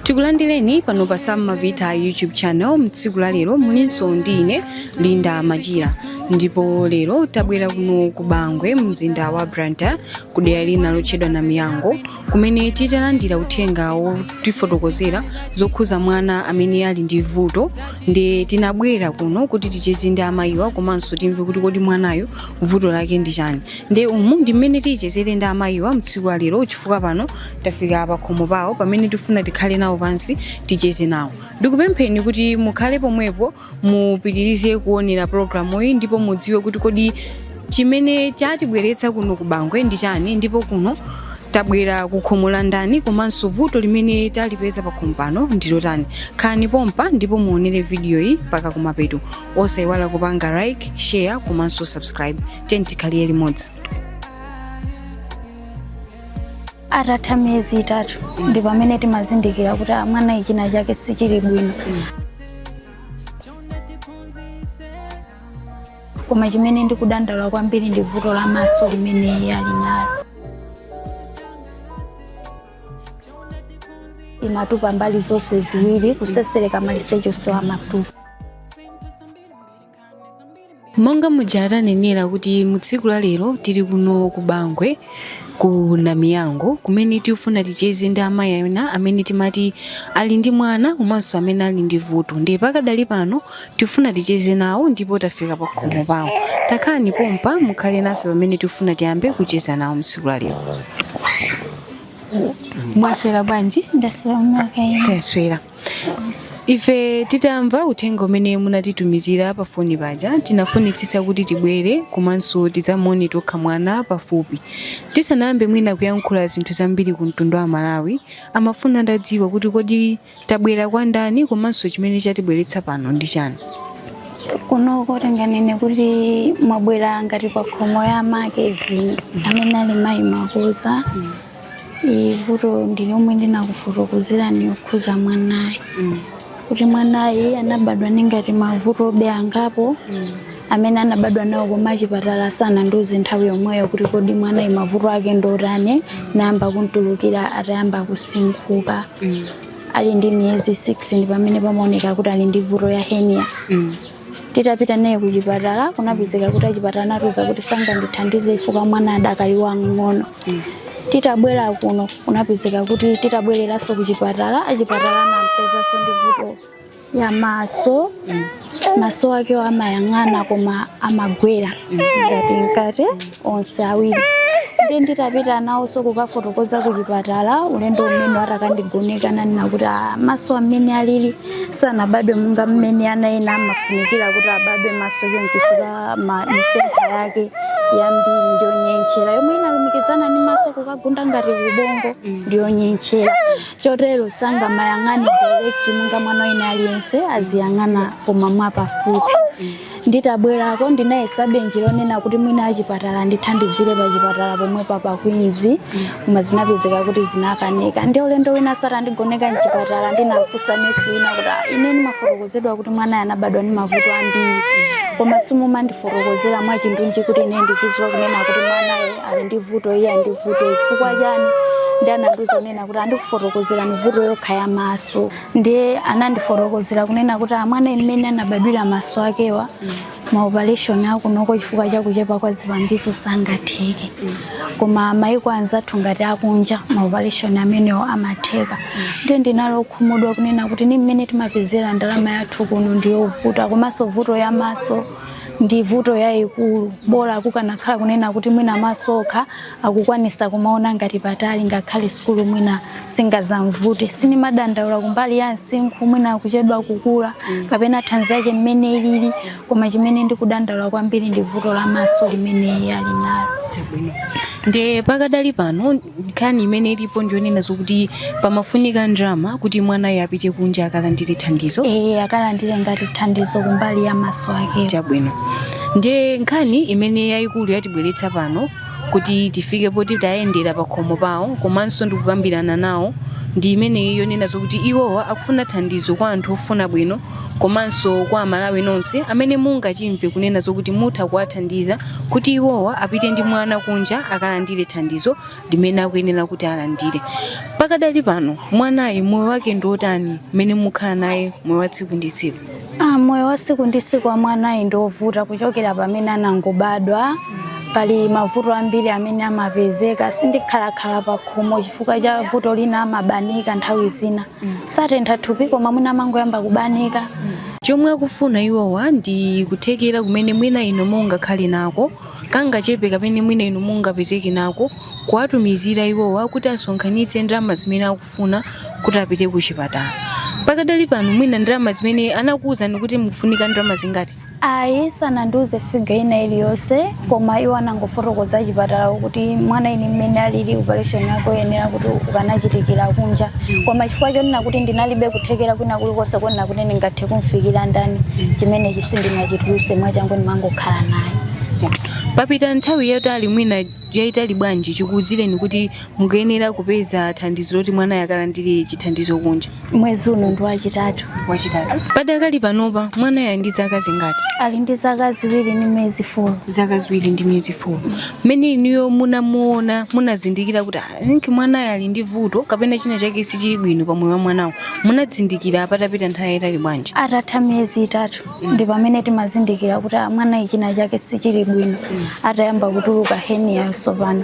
Tikulandireni pano pa Sam Mavita YouTube channel mtsiku la lero mulinso ndi ine Linda Machira ndipo lero tabwera kuno ku Bangwe mzinda wa Blantyre ku dera lina lotchedwa Namiyango kumene titalandira uthenga wotifotokozera zokhuza mwana amene ali ndi vuto ndi tinabwera kuno kuti ticheze ndi amayiwa komanso timve kuti kodi mwanayo vuto lake ndi chani ndi umu ndi mmene tichezere ndi amayiwa mtsiku la lero chifukwa pano tafika pakhomo pawo pamene tifuna tikhale nawo pansi ticheze nawo ndikupempheni kuti mukhale pomwepo mupitirize kuonera programu iyi ndipo mudziwe kuti kodi chimene chatibweretsa kuno ku bangwe ndi chani ndipo kuno tabwera ku khomo la ndani komanso vuto limene talipeza pa khomo pano ndilotani khani pompa ndipo muonere video iyi mpaka kumapeto osayiwala kupanga like share komanso subscribe tiyeni tikhalire limodzi atatha miyezi itatu ndi pamene timazindikira kuti ah, mwana china chake sichili bwino koma chimene ndikudandaula kwambiri ndi vuto la maso limene iye ali nalo imatupa mbali zonse ziwiri kusesereka maliseche onsewa amatupa monga muja atanenera kuti mu tsiku la lero tili kuno ku bangwe ku namiyango kumene tifuna ticheze ndi amayi ena amene timati ali ndi mwana komanso amene ali ndi vuto ndiye pakadali pano tikufuna ticheze nawo ndipo tafika pa khomo pawo takhalani pompa mukhale nafe pamene tifuna tiyambe kucheza nawo mu tsiku la lero mwaswera bwanji ndaswera kaya inu taswera ife titamva uthenga umene munatitumizira pa foni paja tinafunitsitsa kuti tibwere komanso tidzamuone tokha mwana pafupi tisanayambe mwina kuyankhula zinthu zambiri ku mtundu wa amalawi amafuna atadziwa kuti kodi tabwera kwa ndani komanso chimene chatibweretsa pano ndi chani kuno ndinganene kuti mwabwera ngati pa khomo ya make ivi amene ali mayi makuza Ii vuto ndi yomwe ndinakufotokozerani yokhuza mwanayi kuti mwanayi anabadwa ndi ngati mavuto obe angapo amene anabadwa nawo koma achipatala sanandiuze nthawi yomweyo kuti kodi mwanayi mavuto ake ndotani nayamba kumtulukira atayamba kusinkhuka ali ndi miyezi 6 ndi pamene pamaoneka kuti ali ndi vuto ya henia titapita naye ku chipatala kunapezeka kuti achipatala anatiuza kuti sangandithandize chifukwa mwana adakali wamng'ono titabwera kuno kunapezeka kuti titabwereranso ku chipatala achipatala anampezanso ndi vuto ya maso maso akewo amayang'ana koma amagwera ngati mkati onse awiri ndi nditapita nawonso kukafotokoza ku chipatala ulendo umene atakandigoneka ananena kuti "Ah, maso amene alili sanabadwe monga mmene ana ena amafunikira kuti abadwe maso chifukwa misempha yake yambiri ndiyonyentchera yomwe inalumikizana ndi maso kukagunda ngati ubongo ndiyonyentchera chotero sangamayang'ane direct monga mwana wina aliyense aziyang'ana koma mwapafupi Nditabwerako ndinayesabe njira yonena kuti mwina achipatala andithandizire pachipatala pomwe pa Queens koma zinapezeka kuti zinakanika. Ndi ulendo winanso atandigoneka m'chipatala ndinafunsa nesi wina kuti "Ah, ine ndimafotokozedwa kuti mwanayo anabadwa ndi mavuto ambiri koma simumandifotokozera mwachindunji kuti ine ndizidziwa kunena kuti mwanayo ali ndi vuto iyi ali ndi vuto chifukwa chani ndi anandiuza kunena kuti andikufotokozerani vuto yokha ya maso ndiye anandifotokozera kunena kuti ah mwana mmene anabadwira maso akewa maopaleshoni akunoko chifukwa cha kuchepa kwa zipangizo sangatheke koma maiko anzathu ngati akunja maopaleshoni amenewo amatheka ndiye ndinali okhumudwa kunena kuti ni mmene timapezera ndalama yathu kuno ndiyovuta komanso vuto ya maso ndi vuto yayikulu bola kukanakhala kunena kuti mwina maso okha akukwanisa kumaona ngati patali ngakhale sukulu mwina singadzamuvute sindimadandaula kumbali ya msinkhu mwina kuchedwa kukula mm. kapena thanzi yake mmene ilili koma chimene ndikudandaula kwambiri ndi vuto la maso limene iye ali nalo nde pakadali pano nkhani imene ilipo ndiyonena zokuti pamafunika ndalama kuti mwanayo apite kunja akalandire thandizo e, akalandire ngati thandizo kumbali ya maso ake chabwino nde nkhani imene yayikulu yatibweretsa pano kuti tifike poti tayendera pa khomo pawo komanso ndikukambirana nawo ndi imeneyi yonena zokuti iwowa akufuna thandizo kwa anthu ofuna bwino komanso kwa Amalawi nonse amene mungachimve kunena zokuti mutha kuwathandiza kuti iwowa apite ndi mwana kunja akalandire thandizo limene akuyenera kuti alandire pakadali pano mwanayu moyo wake ndi wotani mmene mukhala naye moyo wa tsiku ndi tsiku Ah, moyo wa siku ndi siku wa mwanayu ndi wovuta kuchokera pamene anangobadwa pali mavuto ambiri amene amapezeka sindikhalakhala pa khomo chifukwa cha vuto lina amabanika nthawi zina satentha thupi koma mwina amangoyamba kubanika chomwe akufuna iwowa ndi kuthekera kumene mwina inu mungakhale nako kangachepe kamene mwina inu mungapezeke nako kuwatumizira iwowa kuti asonkhanitse ndalama zimene akufuna kuti apite ku chipatala pakadali pano mwina ndalama zimene anakuwuzani kuti mukufunika ndalama zingati ayi sanandiuze figa ina iliyonse koma iwo anangofotokoza chipatala kuti mwanayi mmene alili operation yake oyenera kuti ukanachitikira kunja koma chifukwa chonena kuti ndinalibe kuthekera kwina kulikonse konena kuti ndingathe kumfikira ndani chimene sindinachituluse mwachangu ndimangokhala naye papita nthawi yotali mwina yaitali bwanji chikuuzireni kuti mukuyenera kupeza thandizo loti mwanayi akalandire chithandizo kunja? Mwezi uno ndi wachitatu. Wachitatu. Padakali panopa mwanayi ali ndi zaka zingati? Ali ndi zaka ziwiri ndi miyezi 4. Zaka ziwiri ndi miyezi 4. Mmene inuyo munamuona, munazindikira kuti "Ah, I think mwanayi ali ndi vuto kapena china chake sichili bwino pa moyo wa mwanawo. Munazindikira patapita nthawi yaitali bwanji? Atatha miyezi itatu. ndi pamene timazindikira kuti ah, mwanayi china chake sichili bwino atayamba kutuluka heniyayo tsopano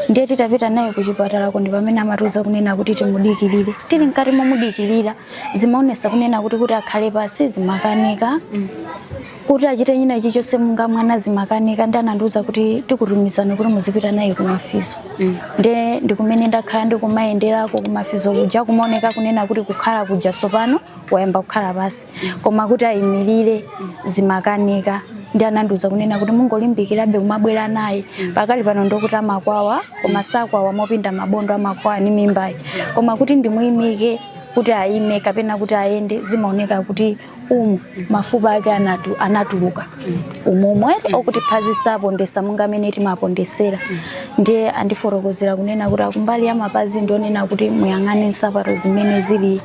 ndiye titapita naye kuchipatalako ndi pamene amatiuza kunena kuti timudikirire tili mkati momudikirira zimaonesa kunena kuti kuti akhale pasi zimakanika kuti achite china ichi chonse munga mwana zimakanika ndi anandiuza kuti tikutumizani kuti muzipita naye kumafizo nde nkumene ndakhala ndikumayenderako kumafizo kuja kumaoneka kunena kuti kukhala kuja tsopano wayamba kukhala pasi koma kuti ayimirire zimakanika ndi anandiuza kunena kuti mungolimbikirabe kumabwera naye pakali pano ndokuti amakwawa koma sakwawa mopinda mabondo amakwawa ni mimbayi koma kuti ndimuyimike kuti ayime kapena kuti ayende zimaoneka kuti umu mafupa ake anatu, anatuluka umumwe okuti phazi sapondesa munga mmene timapondesera ndiye andifotokozera kunena kuti akumbali ya mapazi ndionena kuti muyang'ane nsapato zimene zili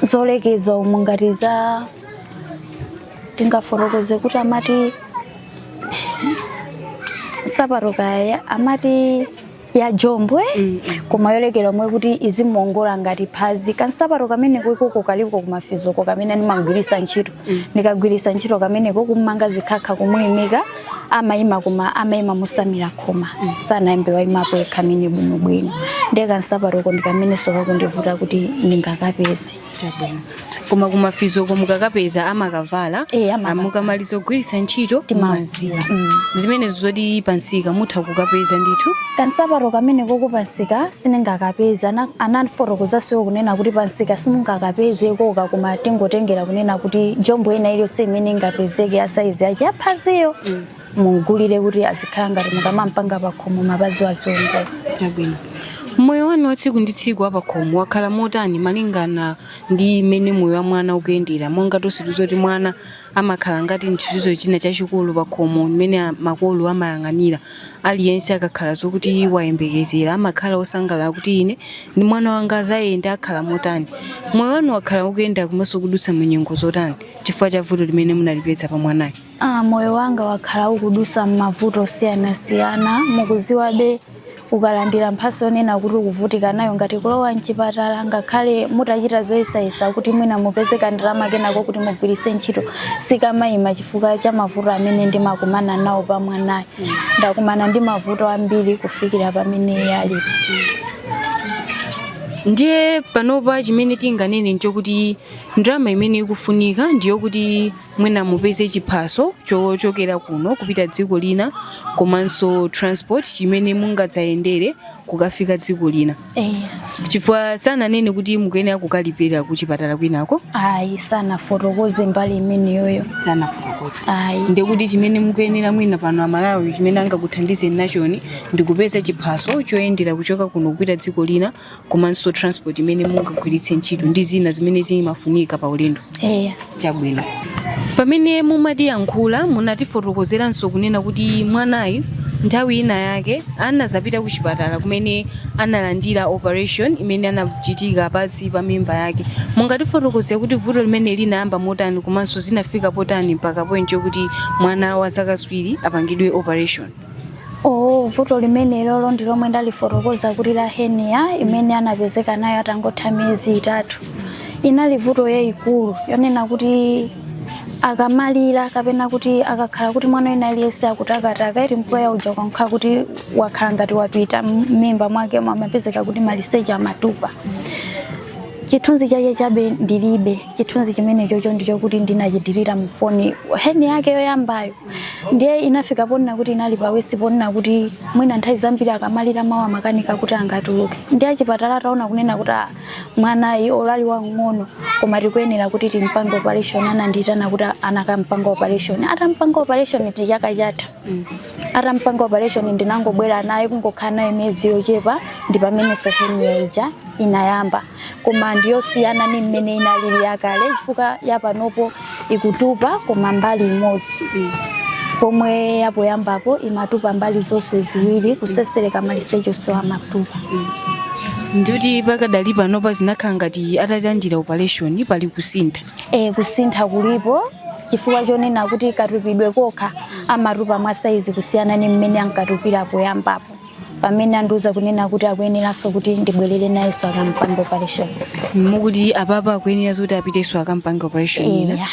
zolekeza umumwe ngati za tingafotokoze kuti amati nsapato kaya amati ya jombwe koma yolekera omwe kuti izimuongola ngati phazi kansapato kamene koikoko kaliko kumafizoko kamene ndimamgwirisa ntchito ndikagwiritsa ntchito kameneko kummanga zikhakha kumuyimika amayima koma amayima motsamira khoma sanayambe wayimapo yekha mmene bwinobwino ndiye kansapatoko ndikamenenso kakundivuta kuti ndingakapeze Chabwino. koma kumafizoko mukakapeza amakavala Eh, amakavala. mukamaliza kugwiritsa ntchito Timasiya. Mumasiya. Mm. zimenezo zoti pansika mutha kukapeza ndithu kansapato kameneko kupansika siningakapeze Ana- anandifotokozanso iwo kunena kuti pansika simungakapeze koka koma tingotengera kunena kuti jombo ina iliyonse imene ingapezeke ya saizi yake yaphaziyo mugulire kuti azikhala ngati mukamampanga pakhomo mapazi aziwongola chabwino moyo wanu wa tsiku ndi tsiku wapakhomo wakhala motani malingana ndi mmene moyo wa mwana ukuyendera monga tonse tikudziwa kuti mwana Amakhala ngati nchithu china chachikulu pakhomo chimene makolo amayang'anira. Aliyense akakhala zokuti wayembekezera amakhala osangalala kuti ine ndi mwana wanga azayenda akhala motani. Moyo wanu wakhala ukuyenda komanso kudutsa mu nyengo zotani chifukwa cha vuto limene munalipeza pa mwanayu? A, Moyo wanga wakhala ukudusa mmavuto osiyanasiyana. Mukuziwabe. ukalandira mphatso yonena kuti ukuvutika nayo ngati kulowa mchipatala ngakhale mutachita zoyesayesa kuti mwina mupeze kandalama kenako kuti mugwiritse ntchito sikamayima chifukwa cha mavuto amene ndimakumana nawo pa mwanayo ndakumana ndi mavuto ambiri kufikira pamene iye ali ndiye panopa chimene tinganene nchokuti ndalama imene ikufunika ndiyokuti mwina mupeze chiphaso chochokera kuno kupita dziko lina komanso transport chimene mungadzayendere kukafika dziko lina eh, chifukwa sananene kuti mukuyenera kukalipira ku chipatala kwinako ayi sanafotokoze mbali imeneyoyo sanafotokoze ayi ndekuti chimene mukuyenera mwina pano amalawi chimene angakuthandizeni nachoni ndikupeza chiphaso choyendera kuchoka kuno kupita dziko lina komanso transport imene mungagwiritse ntchito ndi zina zimene zimafunika pa ulendo eya chabwino pamene mumatiyankhula munatifotokozeranso kunena kuti mwanayu nthawi ina yake anazapita ku chipatala kumene analandira operation imene anachitika pansi pa mimba yake mungatifotokozere kuti vuto limeneli linayamba motani komanso zinafika potani mpaka point yokuti mwana wa zaka ziwiri apangidwe operation Oh, vuto limenelolo ndi lomwe ndalifotokoza kuti la hernia imene anapezeka nayo atangotha miyezi itatu inali vuto yayikulu yonena kuti akamalira kapena kuti akakhala kuti mwana wina aliyense akutakataka iti mpweya uja ukakhala kuti wakhala ngati wapita m'mimba mwake amapezeka kuti maliseche amatupa chithunzi chake chabe ndilibe chithunzi chimenechocho ndi chokuti ndinachitirira mu foni hernia yake yoyambayo ndiye inafika ponena kuti inali pa worse ponena kuti mwina nthawi zambiri akamalira mawu amakanika kuti angatuluke ndiye achipatala ataona kunena kuti "Ah, mwanayi olo ali wang'ono koma tikuyenera kuti timpange operation anandiyitana kuti anakampanga operation atampanga operation ndi chaka chatha atampanga operation ndinangobwera naye kungokhala naye miyezi yochepa ndi pamenenso hernia ija inayamba koma ndiyosiyana ni mmene inalili yakale chifukwa yapanopo ikutupa koma mbali imodzi pomwe yapoyambapo imatupa mbali zonse ziwiri kutsetsereka maliseche onse amatupa ndikuti pakadali panopa zinakhala ngati atalandira operation pali kusintha e, kusintha kulipo chifukwa chonena kuti katupidwe kokha amatupa mwa saizi kusiyana ni mmene ankatupira poyambapo pamene andiuza kunena kuti akuyeneranso kuti ndibwerere nayenso akampange operation mukuti apapa akuyenera zoti apitenso akampange operation ina Eya.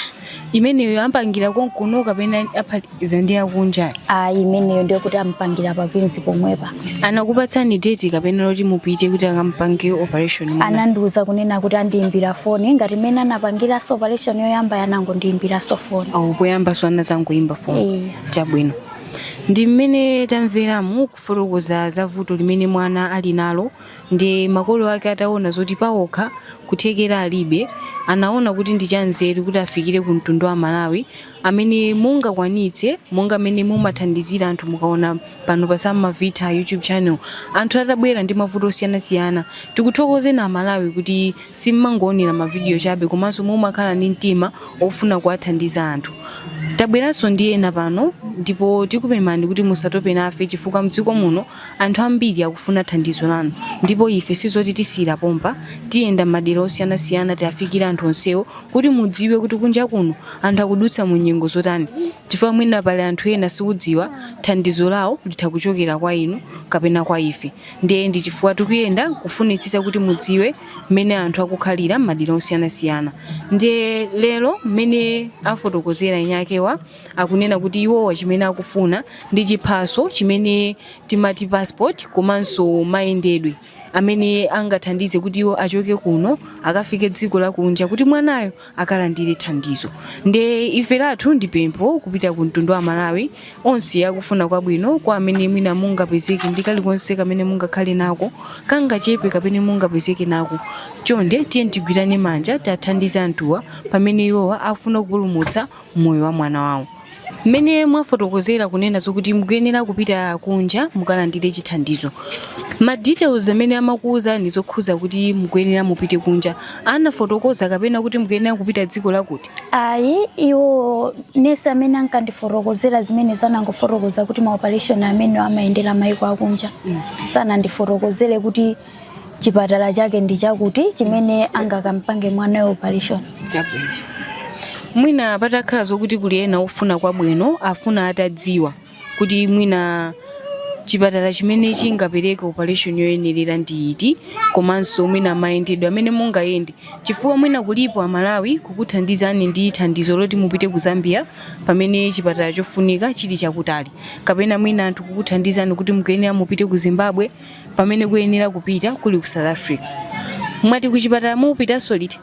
imeneyo ampangira konkuno kapena aphatikiza ndi akunja ayi imeneyo ndiyo kuti ampangira pa kwinzi pomwepa anakupatsani date kapena loti mupite kuti akampange operation ina anandiuza kunena kuti andiimbira foni ngati mmene anapangiranso operation yoyamba anangondiimbiranso foni aa poyambanso anazangoyimba foni Eya. chabwino Ndi mmene tamveramu kufotokoza za vuto limene mwana ali nalo ndi makolo ake ataona zoti paokha kuthekera alibe, anaona kuti ndi chanzeru kuti afikire ku mtundu wa aMalawi amene mungakwanitse monga mmene mumathandizira anthu mukaona pano pa Sam Mavitha YouTube channel anthu atabwera ndi mavuto osiyanasiyana tikuthokozeni a Malawi kuti Simumangoonera mavidiyo chabe komanso mumakhala ndi mtima wofuna kuwathandiza anthu. Tabweranso ndi ena pano ndipo tikupemphani kuti musatope nafe chifukwa m'dziko muno anthu ambiri akufuna thandizo lanu. Ndipo ife si zoti tisiyira pompa, tiyenda m'madera osiyanasiyana tiafikire anthu onsewo kuti mudziwe kuti kunja kuno anthu akudutsa mu nyengo zotani chifukwa mwina pali anthu ena siudziwa thandizo lawo litha kuchokera kwa inu kapena kwa ife. Ndiye ndi chifukwa tikuyenda kufunitsitsa kuti mudziwe mmene anthu akukhalira m'madera osiyanasiyana. Ndiye lero mmene afotokozera eni akewa akunena kuti iwowa chimene akufuna ndi chiphaso chimene timati passport komanso mayendedwe amene angathandize kuti iwo achoke kuno akafike dziko lakunja kuti mwanayo akalandire thandizo nde ife lathu ndi pempho kupita ku mtundu wa amalawi onse akufuna kwabwino kwa amene mwina mungapezeke ndi kalikonse kamene mungakhale nako kangachepe kamene mungapezeke nako chonde tiyeni tigwirane manja tiathandize anthuwa pamene iwowa akufuna kupulumutsa moyo wa mwana wawo Mmene mwafotokozera kunena zokuti mukuyenera kupita kunja mukalandire chithandizo, ma details amene amakuuzani zokhuza kuti mukuyenera mupite kunja anafotokoza kapena kuti mukuyenera kupita dziko lakuti? Ayi, iwo nesi amene ankandifotokozera zimenezo anangofotokoza kuti ma operation amenewo amayendera maiko akunja. Sanandifotokozere kuti chipatala chake ndi chakuti chimene angakampange mwanayo operation chabwino mwina patakhala zokuti kuli ena ofuna kwabwino afuna atadziwa kuti mwina chipatala chimene chingapereke operation yoyenerera ndi iti komanso mwina mayendedwe amene mungayende chifukwa mwina kulipo amalawi kukuthandizani ndi thandizo loti mupite ku zambia pamene chipatala chofunika chili chakutali kapena mwina anthu kukuthandizani kuti mukuyenera mupite ku zimbabwe pamene kuyenera kupita kuli ku south africa mwati kuchipatala mupitanso liti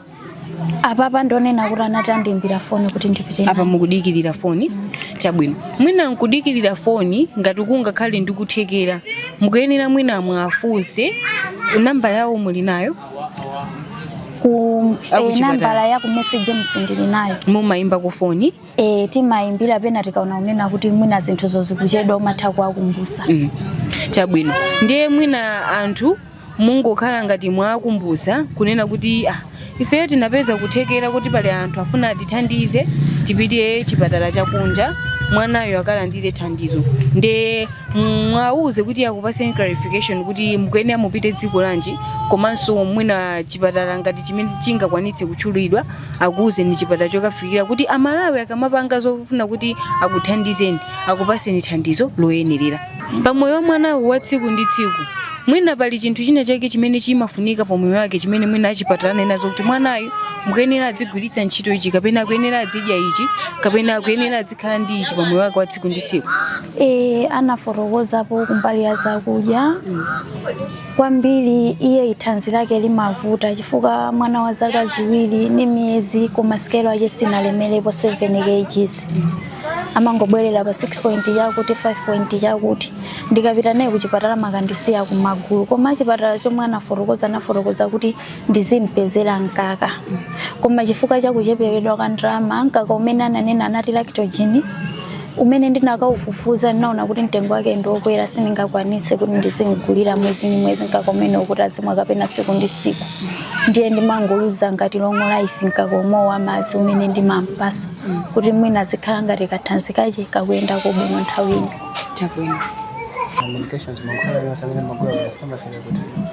apapa ndonena kuti anati andiimbira foni kuti ndipite apa mukudikirira foni chabwino mwina nkudikirira foni ngati kungakhale ndikuthekera mukuyenera mwina muwafunse nambala yawo muli nayo ku eh, nambala ya ku message ndili nayo mumayimba ku foni E, timayimbira pena tikaona kunena kuti mwina zinthuzo zikuchedwa umatha kuwakumbusa mm. chabwino ndiye mwina anthu mungokhala ngati mwakumbusa kunena kuti ah, ifeyo tinapeza kuthekera kuti pali anthu afuna atithandize tipite chipatala chakunja mwanayo akalandire thandizo nde muwauze kuti akupaseni clarification kuti mukuyenera mupite dziko lanji komanso mwina chipatala ngati chimene chingakwanitse kutchulidwa akuuzeni chipatala chokafikira kuti amalawi akamapanga zofuna kuti akuthandizeni akupaseni thandizo loyenerera pamoyo wa mwanayo wa tsiku ndi tsiku mwina pali chinthu china chake chimene chimafunika pa moyo wake chimene mwina achipatala anenazo kuti mwanayu mukuyenera adzigwiritsa ntchito ichi kapena akuyenera adzidya ichi kapena akuyenera adzikhala ndi ichi pa moyo wake wa tsiku ndi tsiku e, anafotokozapo kumbali ya zakudya kwambiri iye thanzi lake limavuta chifukwa mwana wa zaka ziwiri ndi miyezi koma sikelo yache sinalemerepo 7 kgs amangobwerera pa 6 point chakuti 5 point chakuti ndikapita naye kuchipatala amakandisiya kumagulu koma achipatala chomwe anafotokoza anafotokoza kuti ndizimpezera mkaka koma chifukwa cha kuchepekedwa kwa ndalama mkaka umene ananena anati lactogen umene ndinakaufufuza ndinaona kuti mtengo wake ndiokwera sindingakwanise kuti ndizimgulira mwezi ndi mwezi mkaka umenewo kuti azimwa kapena siku ndi siku ndiye ndimamgulira ngati long life mkaka umenewo wa madzi umene ndimampasa kuti mwina azikhala ngati kathanzi kache kakuyendako bwino nthawi ino chabwino Medications, mankhwala yonse amene mumagula ku pharmacy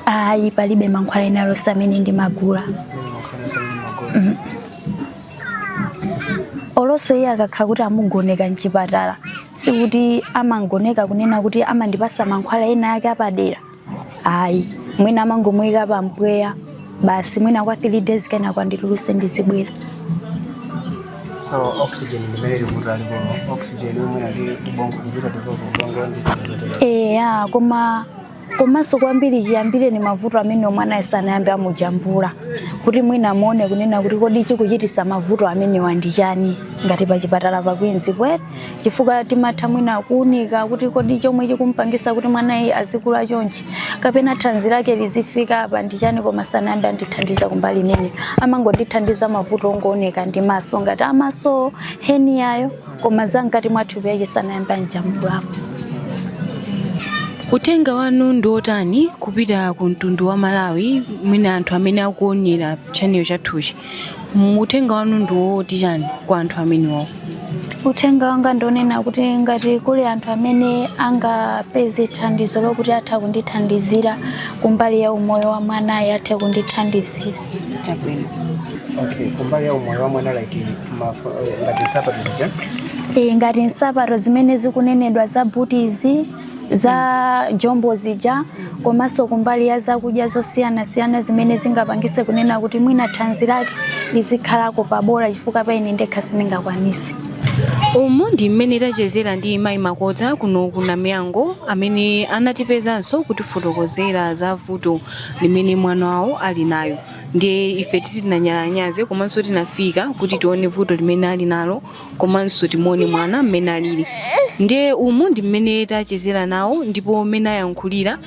ayi palibe mankhwala ena alonse amene ndimagula Mm. oloso iye akakhala kuti amugoneka mchipatala sikuti amamugoneka kunena kuti amandipasa mankhwala ena ake apadera ayi mwina amangomuyika pa mpweya basi mwina kwa 3 days kenako andituluse ndizibwera so oxygen ndimene likuti aliko oxygen umwe ali ubongo kuchita tikuti ubongo ndi eya koma komanso kwambiri chiyambireni mavuto amenewa mwanayi sanayambe amujambula kuti mwina amuone kunena kuti kodi chikuchitisa mavuto amenewa ndi chani ngati pa chipatala pa Queens kwete chifukwa timatha mwina kuunika kuti kodi chomwe chikumpangisa kuti mwanayi azikula chonchi kapena thanzi lake lizifika apa ndi chani koma sanayambe andithandiza kumbali imeneyi amangondithandiza mavuto ongooneka ndi maso ngati amaso heniyayo koma za mkati mwa thupi lake sanayambe amujambulapo uthenga wanu ndi wotani kupita ku mtundu wa malawi mwina anthu amene akuonera channel chathuchi uthenga wanu ndi woti chani kwa anthu amenewo uthenga wanga ndionena kuti ngati kuli anthu amene angapeze thandizo lokuti atha kundithandizira kumbali ya umoyo wa mwanayi atha kundithandizira Chabwino. Okay, kumbali ya umoyo wa mwana like eh, ngati nsapato zija? Eh, ngati nsapato zimene zikunenedwa za butizi za jombo zija komanso kumbali ya zakudya zosiyanasiyana zimene zingapangise kunena kuti mwina thanzi lake lizikhalako pabola chifukwa pa ine ndekha sindingakwanisi umu ndi mmene tachezera ndi mayi makodza kuno ku namiyango amene anatipezanso kutifotokozera za vuto limene mwana wawo ali nayo ndiye ife sitinanyalanyaze komanso tinafika kuti tione vuto limene ali nalo komanso timuone mwana mmene alili ndiye umu ndi mmene tachezera nawo ndipo mmene ayankhulira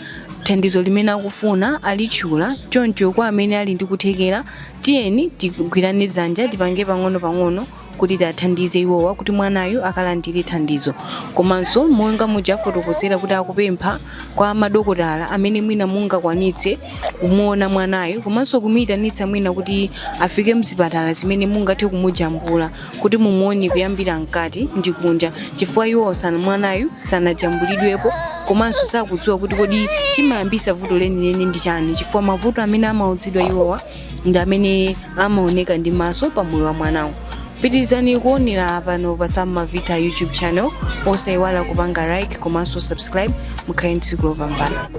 thandizo limene akufuna alitchula choncho kwa amene ali ndi kuthekera tiyeni tigwirane dzanja tipange pang'ono pang'ono kuti tiathandize iwowa kuti mwanayu akalandire thandizo komanso monga muja afotokozera kuti akupempha kwa madokotala amene mwina mungakwanitse kumuona mwanayu komanso kumuitanitsa mwina kuti afike mzipatala zimene mungathe kumujambula kuti mumuone kuyambira mkati ndi kunja chifukwa iwo sana mwanayu sanajambulidwepo komanso sakudziwa kuti kodi chimayambisa vuto lenileni ndi chani chifukwa mavuto amene amauzidwa iwowa ndi amene amaoneka ndi maso pa moyo wa mwanayu pitirizani kuonera pano pa samavita youtube channel osayiwala kupanga like komanso subscribe mukhale tsiku lopambana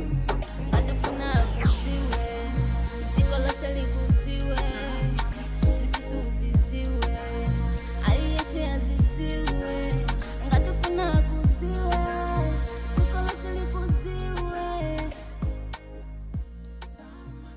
Atafuna kusiwe, ziko lose likusiwe, sisisu zisiwe, aliyesi azisiwe. Ngatafuna kusiwe, ziko lose likusiwe.